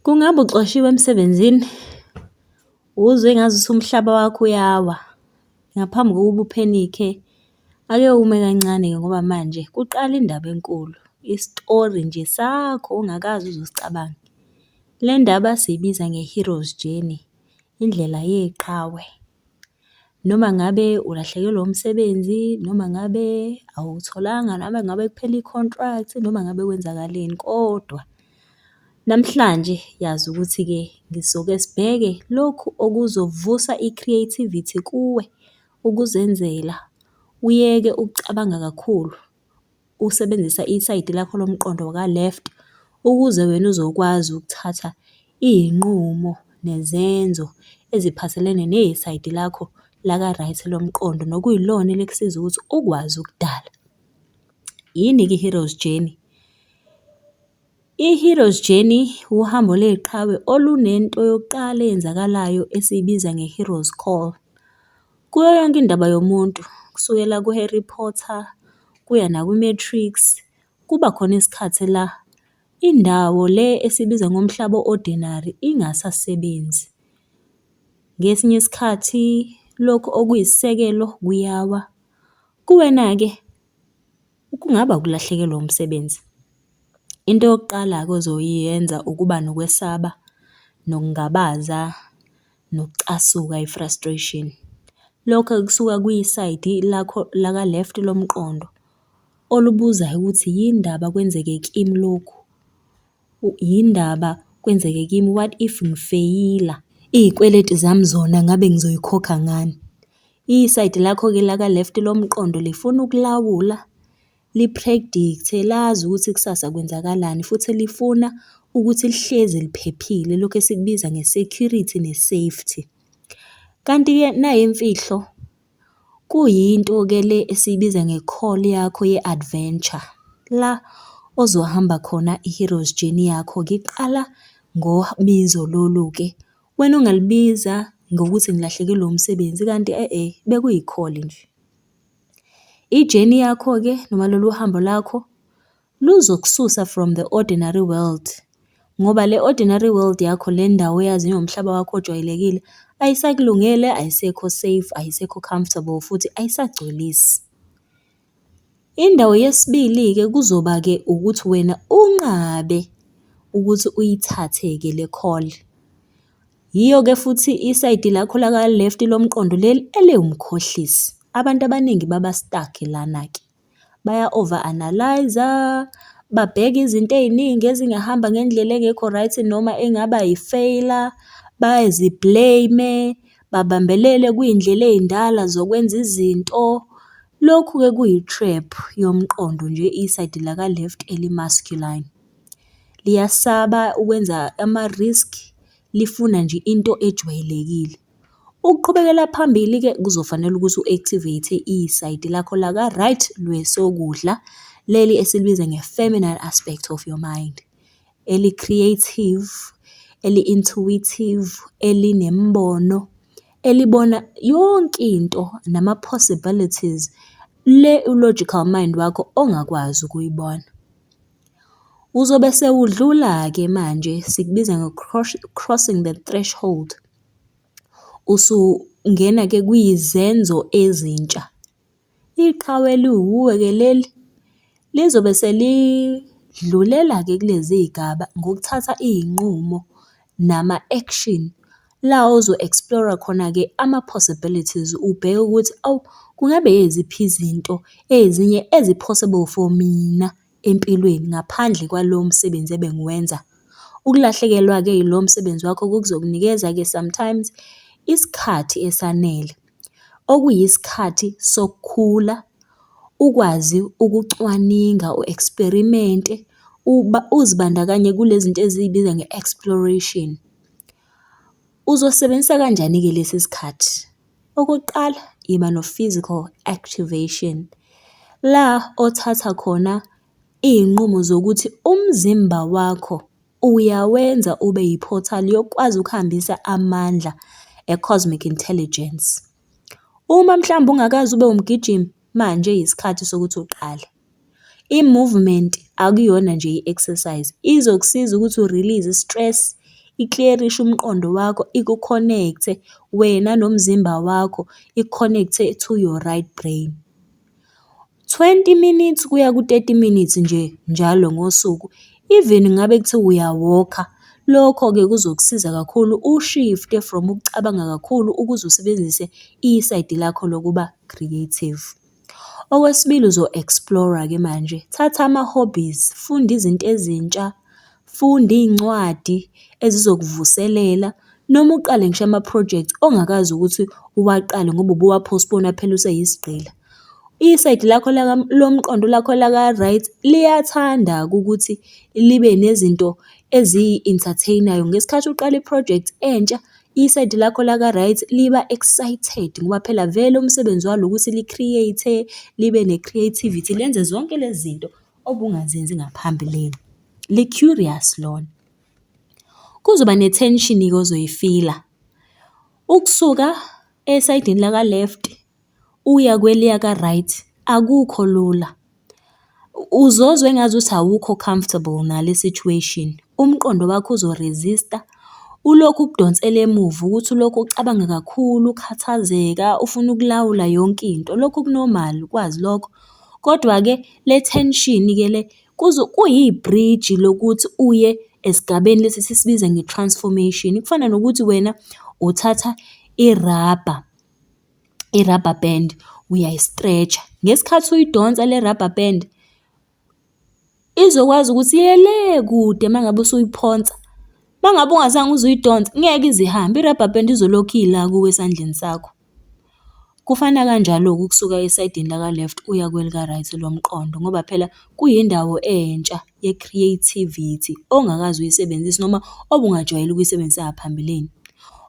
Kungabe uxoshiwe emsebenzini? Uzwe ngazuthi umhlaba wakho uyawa. Ngaphambi kokuba uphenikhe, ake ume kancane-ke ngoba manje kuqala indaba enkulu, isitori nje sakho ongakaze uze usicabange. Le ndaba siyibiza nge-hero's journey, indlela yeqhawe. Noma ngabe ulahlekelwe umsebenzi, noma ngabe awutholanga, noma ngabe kuphele i-contract, noma ngabe kwenzakaleni kodwa namhlanje yazi ukuthi-ke ngizoke sibheke lokhu okuzovusa i-creativity kuwe, ukuzenzela, uyeke ukucabanga kakhulu. usebenzisa isayidi lakho lomqondo ka-left ukuze wena uzokwazi ukuthatha iy'nqumo nezenzo eziphathelene nesayidi lakho laka-right lomqondo, nokuyilona elikusiza ukuthi ukwazi ukudala. Yini-ke i-hero's journey? I-Hero's Journey wuhambo leqhawe olunento yokuqala eyenzakalayo esiyibiza nge-Hero's Call. Kuyo yonke indaba yomuntu, kusukela ku-Harry Potter kuya naku-Matrix, kuba khona isikhathi la indawo le esiyibiza ngomhlaba o-ordinary ingasasebenzi. Ngesinye isikhathi lokhu okuyisisekelo kuyawa. Kuwena-ke? Kungaba ukulahlekelwa umsebenzi. Into yokuqala-ke ozoyenza ukuba nokwesaba, nokungabaza, nokucasuka, i-frustration. Lokho kusuka kwisayidi lakho laka-left lomqondo, olubuzayo ukuthi yini ndaba kwenzeke kimi lokhu. Yini ndaba kwenzeke kimi what if ngifeyila? Iy'kweleti zami zona ngabe ngizoy'khokha ngani? Isayidi lakho-ke la ka left lomqondo lifuna ukulawula, li-predict-e, lazi ukuthi kusasa kwenzakalani futhi lifuna ukuthi lihlezi liphephile, lokhu esikubiza nge-security ne-safety. Kanti-ke nayimfihlo. Kuyinto ke le esiyibiza nge-call yakho ye-adventure, la ozohamba khona i-hero's journey yakho ke. Iqala ngobizo lolu-ke, wena ungalibiza ngokuthi ngilahlekelwe umsebenzi kanti e-e bekuyi-call nje. I-journey yakho-ke noma lolu hambo lakho Luzokususa from the ordinary world ngoba le ordinary world yakho le ndawo oyaziyo ngomhlaba wakho ojwayelekile ayisakulungele, ayisekho safe, ayisekho comfortable futhi ayisagculisi. Indawo yesibili-ke kuzoba-ke ukuthi wena unqabe ukuthi uyithathe-ke le call. Yiyo-ke futhi isayidi lakho laka-left lomqondo leli eliwumkhohlisi. Abantu abaningi baba-stuck lana-ke. baya-over analyse-a, babheke izinto ey'ningi ezingahamba ngendlela engekho right noma engaba yi-failure, bazi-blame-e, babambelele kwiy'ndlela ey'ndala zokwenza izinto. Lokhu-ke kuyi-trap yomqondo nje isayidi laka-left eli-masculine. Liyasaba ukwenza ama-risk, lifuna nje into ejwayelekile. Ukuqhubekela phambili-ke kuzofanele ukuthi u-activate isayidi lakho laka-right lwesokudla, leli esilibiza nge-feminine aspect of your mind, eli-creative, eli-intuitive, elinemibono, elibona yonke into nama-possibilities, le u-logical mind wakho ongakwazi ukuyibona. Uzobe sewudlula-ke manje sikubiza crossing the threshold. Usungena-ke kwizenzo ezintsha. Iqhawe eliwuwe-ke leli, lizobe selidlulela-ke kulezi zigaba ngokuthatha iy'nqumo nama-action La ozo explore-a khona-ke ama-possibilities, ubheke ukuthi awu, kungabe yiziphi izinto ezinye ezi-possible for mina empilweni ngaphandle kwalo msebenzi ebengiwenza. Ukulahlekelwa-ke ilo msebenzi wakho kuzokunikeza-ke sometimes isikhathi esanele, okuyisikhathi sokukhula, ukwazi ukucwaninga u-eksperimente, uzibandakanye kule zinto eziyibiza nge-exploration. Uzosebenzisa kanjani-ke lesi sikhathi? Okokuqala, yiba no-physical activation, la othatha khona iy'nqumo zokuthi umzimba wakho uyawenza ube yi-portal yokukwazi ukuhambisa amandla e-cosmic intelligence. Uma mhlawumbe ungakaze ube wumgijimi, manje yisikhathi sokuthi uqale. I-movement akuyona nje i-exercise, izokusiza ukuthi u-release i-stress, ikliyerishe umqondo wakho, iku-connect-e wena nomzimba wakho, iku-connect-e to your right brain. Twenty minutes kuya ku-thirty minutes nje njalo ngosuku, even ngabe kuthiwa uyawokha, lokho-ke kuzokusiza kakhulu u-shift-e from ukucabanga kakhulu ukuze usebenzise isayidi lakho lokuba creative. Okwesibili uzo-explore-ke manje, thatha ama-hobbies, funda izinto ezintsha, funda iy'ncwadi ezizokuvuselela noma uqale ngisho ama-project ongakaze ukuthi uwaqale ngoba ubuwa-postpone-a phela useyisigqila. Isayidi lakho lomqondo lakho laka-right liyathanda-ke ukuthi libe nezinto eziyi-entertain-ayo ngesikhathi uqala i-project entsha. Isayidi lakho laka-right liba excited ngoba phela vele umsebenzi walo ukuthi li-create-e, libe ne-creativity, lenze zonke lezi zinto obungazenzi ngaphambilini. Li-curious lona. Kuzoba ne-tension-ke ozoyifila, ukusuka esayidini laka-left uya kweliya ka-right akukho lula. Uzozwa engazuthi awukho comfortable nale situation, umqondo wakho uzo-resist-a, ulokhu ukudonsela emuva ukuthi ulokhu ucabanga kakhulu, ukhathazeka, ufuna ukulawula yonke into. Lokho ku-normal ukwazi lokho, kodwa-ke le tension-ke le kuyi-bridge lokuthi uye esigabeni lesi esisibiza nge-transformation. Kufana nokuthi wena uthatha irabha. i-rubber band uyayi-stretch-a. Ngesikhathi uyidonsa le rubber band, izokwazi ukuthi iye le kude uma ngabe usuyiphonsa. Uma ngabe ungazange uze uyidonse, ngeke ize ihambe, i-rubber band izolokhu ila kuwe esandleni sakho. Kufana kanjalo-ke ukusuka esayidini laka-left uya kwelika-right lomqondo ngoba phela kuyindawo entsha. ye-creativity ongakaze uyisebenzise noma obungajwayele ukuyisebenzisa ngaphambilini.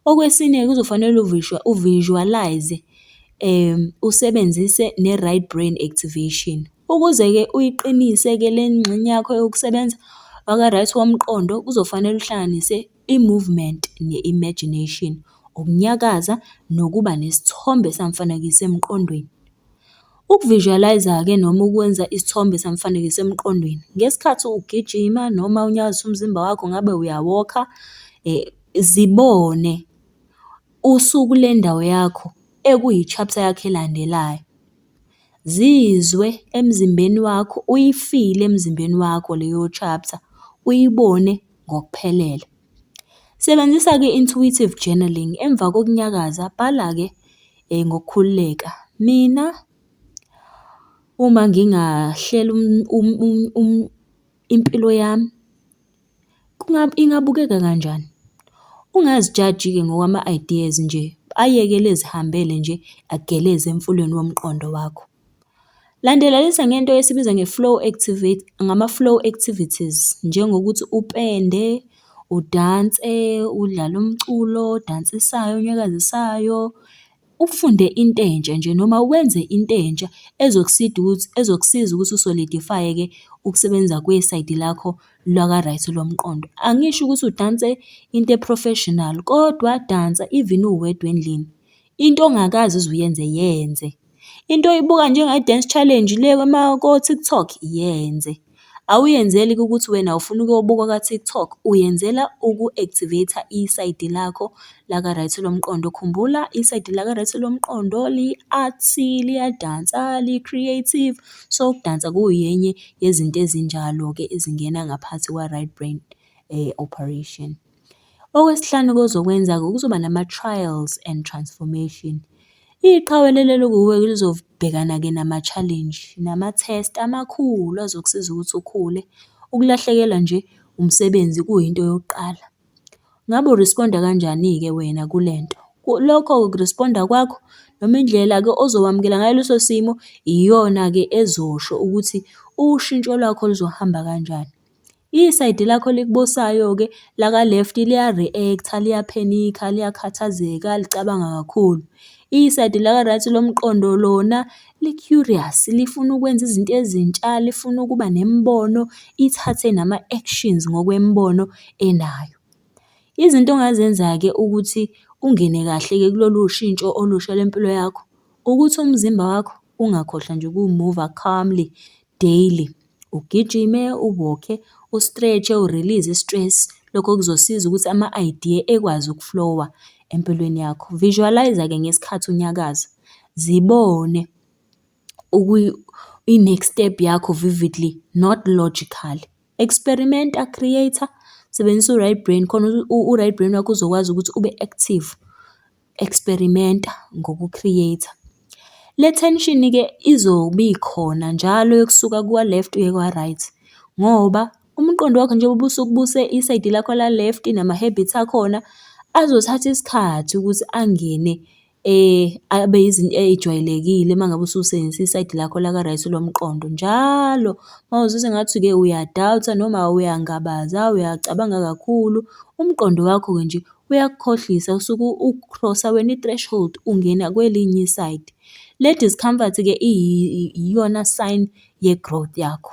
Okwesine kuzofanele u-visualise-e usebenzise ne-right brain activation. Ukuze-ke uyiqinise-ke le ngxenye yakho yokusebenza waka-right womqondo, kuzofanele uhlanganise. I-movement ne-imagination, ukunyakaza nokuba nesithombe samfanekiso emqondweni. Uku-visualise-ke noma ukwenza isithombe samfanekiso emqondweni ngesikhathi ugijima noma unyakazisa umzimba wakho ngabe uyawokha, zibone usukule ndawo yakho ekuyi-chapter yakho elandelayo. Zizwe emzimbeni wakho, uyifile emzimbeni wakho leyo chapter, uyibone. ngokuphelele. Sebenzisa-ke i-intuitive journalling, emva kokunyakaza bhala-ke ngokukhululeka. Mina uma ngingahlela impilo yami, ingabukeka kanjani? Ungazijaji-ke ngokwama-ideas nje, ayekele ezihambele nje ageleze emfuleni womqondo wakho. Landelelisa ngento esiyibiza nge-flow activate, ngama-flow activities, njengokuthi upende, udanse, udlale umculo odansisayo, onyakazisayo. Ufunde into entsha nje noma wenze into entsha ezokusiza ukuthi u-solidify-eke ukusebenza kwesayidi lakho laka-right lomqondo. Angisho ukuthi udanse into e-professional, kodwa dansa even uwedwa endlini. Into ongakaze uze uyenze, yenze. Into oyibuka njenge-dance challenge le ko-TikTok, yenze. Awuyenzeli-ke ukuthi wena ufuna ukuyobukwa ka-TikTok, uyenzela uku-activate-a isayidi lakho laka-right lomqondo. Khumbula isayidi laka-right lomqondo li-artsy, liyadansa, li-creative. So, ukudansa kuyenye yezinto ezinjalo-ke ezingena ngaphathi kwa-right brain operation. Okwesihlanu okuzokwenzeka kuzoba nama-trials and transformation. Iqhawe elilele kuwe lizobhekana-ke nama-challenge nama-test amakhulu azokusiza ukuthi ukhule. Ukulahlekelwa nje umsebenzi kuyinto yokuqala. Ngabe u-respond-a kanjani-ke wena kule nto? Lokho ku-respond-a kwakho noma indlela-ke ozowamukela ngayo leso simo iyona-ke ezosho ukuthi ushintsho lwakho luzohamba kanjani. Isayidi lakho elikubusayo-ke laka-left liya-react-a, liyaphenikha, liyakhathazeka, licabanga kakhulu. Isayidi laka-right lomqondo lona li-curious, lifuna ukwenza izinto ezintsha, lifuna ukuba nemibono, ithathe nama-actions ngokwemibono enayo. Izinto ongazenza-ke ukuthi ungene kahle-ke kulolu shintsho olusha lwempilo yakho, ukuthi umzimba wakho ungakhohlwa nje ukuwumuva calmly, daily. Ugijime, u-walk-e, u-stretch-e, u-release i-stress. Lokho kuzosiza ukuthi ama-idea ekwazi uku-flow-a empilweni yakho. Visualise-ke ngesikhathi unyakaza, zibone i-next step yakho vividly not logically. Experimenta, create-a, sebenzisa u-right brain khona u-right brain wakho uzokwazi ukuthi ube-active experimenta ngoku create-a. Le tension-ke izobe ikhona njalo yokusuka kwa left uye kwa right, ngoba umqondo wakho njengoba usuke ubuse isayidi lakho la left nama habits akhona, azothatha isikhathi ukuthi angene abe izinto ey'jwayelekile uma ngabe ususebenzisa isayidi lakho la ka right lomqondo. Njalo uma uzwa sengathi-ke uya-doubt-a noma uyangabaza, uyacabanga kakhulu, umqondo wakho-ke nje uyakukhohlisa usuke ukhrosa wena i-threshold ungena kwelinye i-side. Le discomfort-ke iyona sign ye-growth yakho.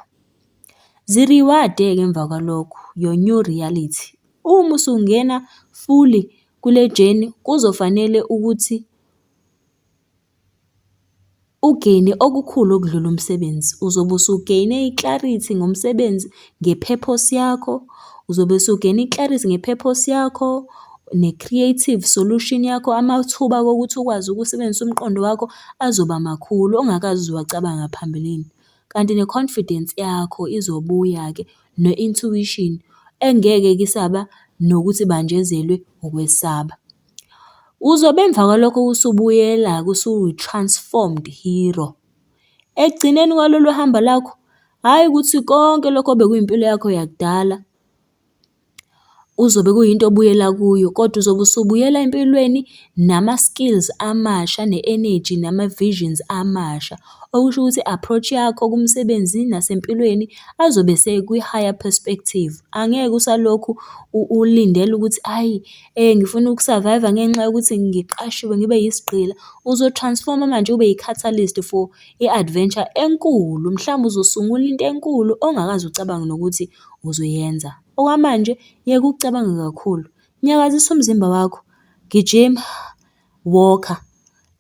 Ziriwade-ke emva kwalokho your new reality. Uma usungena fully kule journey kuzofanele ukuthi Ugeyine okukhulu okudlula umsebenzi. Uzobe usugeyine i-clarity ngomsebenzi nge-purpose yakho. Uzobe usugeyine i-clarity nge-purpose yakho, ne-creative solution yakho, amathuba okuthi ukwazi ukusebenzisa umqondo wakho azoba makhulu ongakaze uze wacabanga phambilini. Kanti ne-confidence yakho izobuya-ke ne-intuition engeke-ke isaba nokuthi ibanjezelwe ukwesaba. Uzobe emva kwalokho usubuyela-ke usuyi-transformed hero. Ekugcineni kwalolu hambo lakho, hhayi ukuthi konke lokho obekuyimpilo yakho yakudala kuzobe kuyinto obuyela kuyo, kodwa uzobe usubuyela empilweni nama-skills amasha, ne-enegy, nama-visions amasha. Okusho ukuthi i-approach yakho kumsebenzi nasempilweni azobe esekwi-higher perspective. Angeke usalokhu ulindela ukuthi ayi. Ngifuna uku-survive-a ngenxa yokuthi ngiqashiwe ngibe yisigqila. Uzo-transform-a manje ube yi-catalyst for i-adventure enkulu, mhlawumbe uzosungula into enkulu ongakaze ucabange nokuthi uzoyenza. Okwamanje yeka ukucabanga kakhulu, nyakazisa umzimba wakho, gijima, walk-a,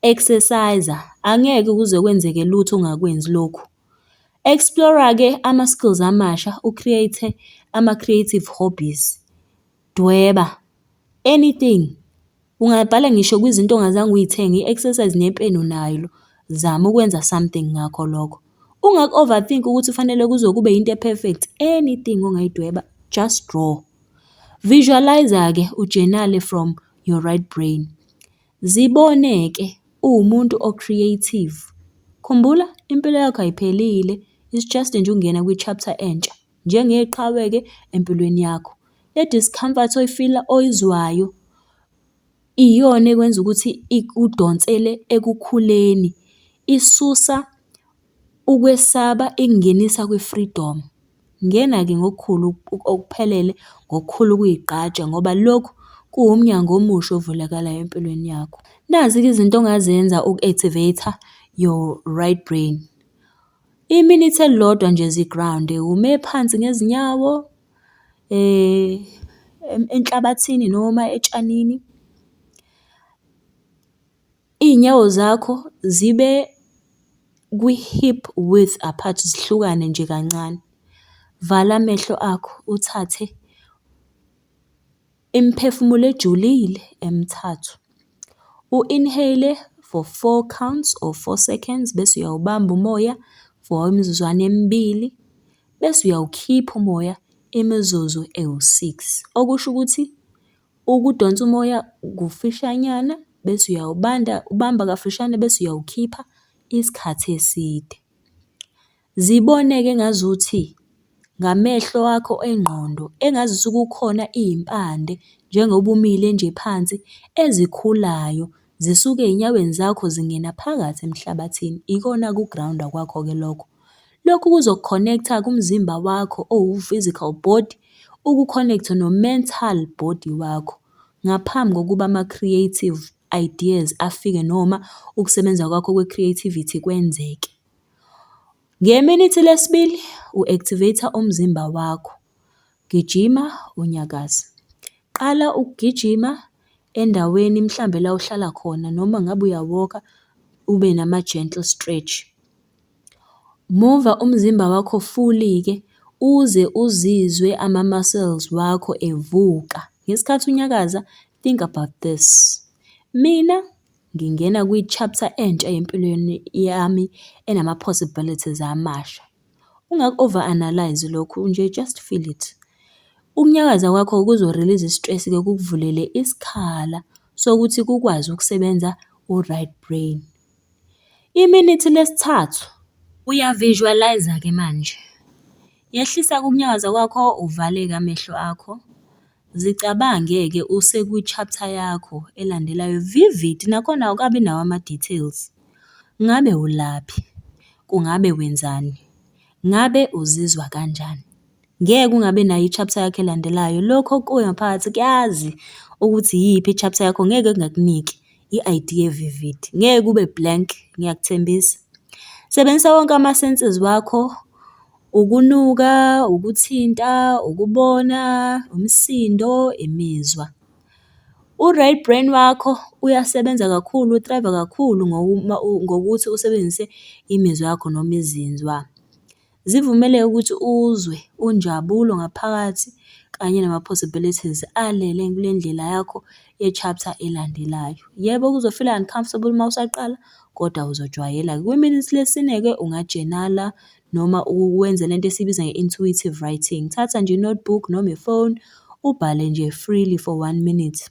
exercise-a, angeke kuze kwenzeke lutho ungakwenzi lokhu. Explore-a-ke ama-skills amasha u-create-e ama-creative hobbies. Dweba, anything. Ungabhala ngisho kwizinto ongazange uy'thenge, i-exercise nepeni unalo. Zama ukwenza something ngakho lokho. Ungaku-overthink ukuthi kufanele kuze kube yinto e-perfect, anything ongayidweba, just draw. Visualise-ke, ujenale from your right brain. Zibone-ke uwumuntu o-creative. Khumbula, impilo yakho ayiphelile, it's just nje ukungena kwi-chapter entsha. njengeqhawe-ke empilweni yakho. Le discomfort oyi-feel-a, oyizwayo iyona ekwenza ukuthi ikudonsele ekukhuleni. Isusa ukwesaba ikungenisa kwi-freedom. Ngena-ke ngokukhulu okuphelele, ngokukhulu ukuyigqaja ngoba lokhu kuwumnyango omusha ovulakalayo empilweni yakho. Nazi-ke izinto ongazenza uku-activate-a your right brain. Iminithi elilodwa nje zi-ground-e, ume phansi ngezinyawo enhlabathini noma etshanini. Iy'nyawo zakho zibe kwi-hip width apart, zihlukane nje kancane. Vala amehlo akho, uthathe. Imiphefumulo ejulile emithathu. U-inhale-le for four counts or four seconds bese uyawubamba umoya for imizuzwana emibili, bese uyawukhipha umoya imizuzu ewu-six. Okusho ukuthi ukudonsa umoya kufishanyana bese uyawubanda, ubamba kafishane bese uyawukhipha isikhathi eside. Zibone-ke engazuthi ngamehlo akho engqondo engazuthi kukhona iy'mpande njengoba umile nje phansi ezikhulayo zisuke ey'nyaweni zakho zingena phakathi emhlabathini, ikona ku-ground-a kwakho-ke lokho. Lokhu kuzoku-connect-a kumzimba wakho owu-physical body, uku-connect-e no-mental body wakho ngaphambi kokuba ama-creative ideas afike noma ukusebenza kwakho kwe-creativity kwenzeke. Ngeminithi lesibili u-activate-a umzimba wakho, gijima unyakaze. Qala ukugijima endaweni mhlawumbe la ohlala khona noma ngabe uyawoka ube nama-gentle stretch. Muva umzimba wakho fully-ke uze uzizwe ama-muscles wakho evuka. Ngesikhathi unyakaza think about this, mina. Ngingena kwi-chapter entsha empilweni yami enama-possibilities amasha. Ungaku-over analyse-i lokhu nje, just feel it. Ukunyakaza kwakho kuzo-release-a i-stress-ke kukuvulele isikhala sokuthi kukwazi ukusebenza u-right brain. Iminithi lesithathu, uya-visualise-ke manje. Yehlisa ukunyakaza kwakho, uvaleke amehlo akho. Zicabange ke use kwi chapter yakho elandelayo vivid nakhona awukabi nawo ama details. Ngabe ulaphi? Kungabe wenzani? Ngabe uzizwa kanjani? Ngeke ungabi nayo i chapter yakho elandelayo. Lokhu okukuwe ngaphakathi kuyazi ukuthi iyiphi i chapter yakho ngeke kungakuniki i idea e vivid. Ngeke ube blank ngiyakuthembisa. Sebenzisa wonke ama senses wakho. Ukunuka, ukuthinta, ukubona, umsindo, imizwa. U-right brain wakho uyasebenza kakhulu, uthrive-a kakhulu ngokuthi usebenzise imizwa yakho noma izinzwa. Zivumele ukuthi uzwe unjabulo ngaphakathi kanye nama-possibilities alele kule ndlela yakho ye-chapter elandelayo. Yebo kuzo-feel uncomfortable uma usaqala kodwa uzojwayela-ke. Kwiminitsi lesine-ke ungajenala noma ukwenza lento esiyibiza nge-intuitive writing. Thatha nje i-notebook noma ifoni, ubhale nje freely for one minute.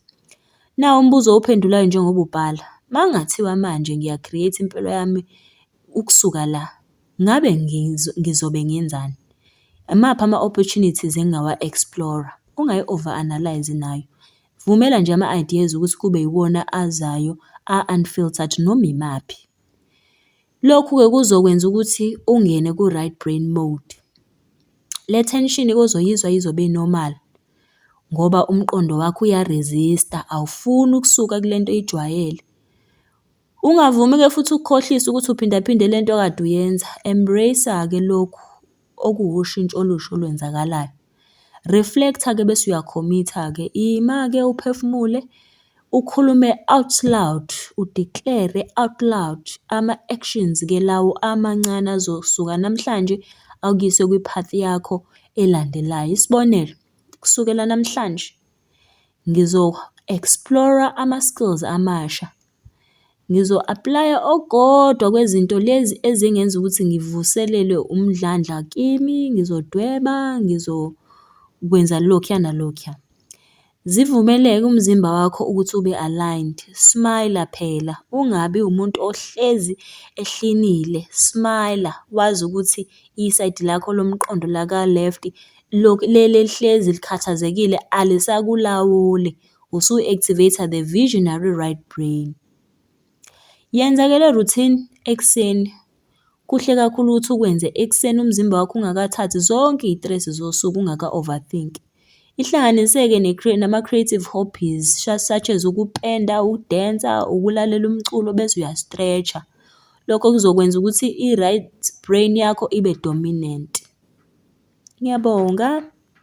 Nawu umbuzo owuphendulayo njengoba ubhala, uma kungathiwa manje ngiya-create-a impilo yami ukusuka la, ngabe ngizobe ngenzani? Imaphi ama-opportunities engingawa-explore-a? Ungayi-over analyse-i nayo. Vumela nje ama-ideas ukuthi kube iwona azayo a-unfiltered noma imaphi. Lokhu-ke kuzokwenza ukuthi ungene ku-right brain mode. Le thenshini ozoyizwa izobe i-normal ngoba umqondo wakho uya-resist-a awufuni ukusuka kule nto oyijwayele. Ungavumi-ke futhi ukukhohlise ukuthi uphinda phinde le nto okade uyenza. Embrace-a-ke lokhu okuwushintsho olusha olwenzakalayo. Reflect-a-ke bese uyakhomitha-ke. Ima-ke uphefumule, ukhulume out loud, u-declare-re out loud ama-actions-ke lawo amancane azosuka namhlanje akuyise kwi-path yakho elandelayo. Isibonelo, kusukela namhlanje ngizo-explore-ra ama-skills amasha. Ngizo-aplaya okukodwa kwezinto lezi ezingenza ukuthi ngivuselelwe umdlandla kimi, ngizodweba, ngizokwenza lokhuya nalokhuya. Zivumeleke umzimba wakho ukuthi ube aligned, smile phela ungabi umuntu ohlezi ehlinile, smile wazi ukuthi isayidi lakho lomqondo laka-left le elihlezi likhathazekile alisakulawuli. usu-activate-a the visionary right brain. Yenza-ke le routine ekuseni. Kuhle kakhulu ukuthi ukwenze ekuseni umzimba wakho ungakathathi zonke iy'tresi zosuku ungaka-overthink-i. Ihlanganise-ke nama-creative hobbies such as ukupenda, ukudensa, ukulalela umculo bese uya-stretch-a. Lokho kuzokwenza ukuthi i-right brain yakho ibe dominant. Ngiyabonga.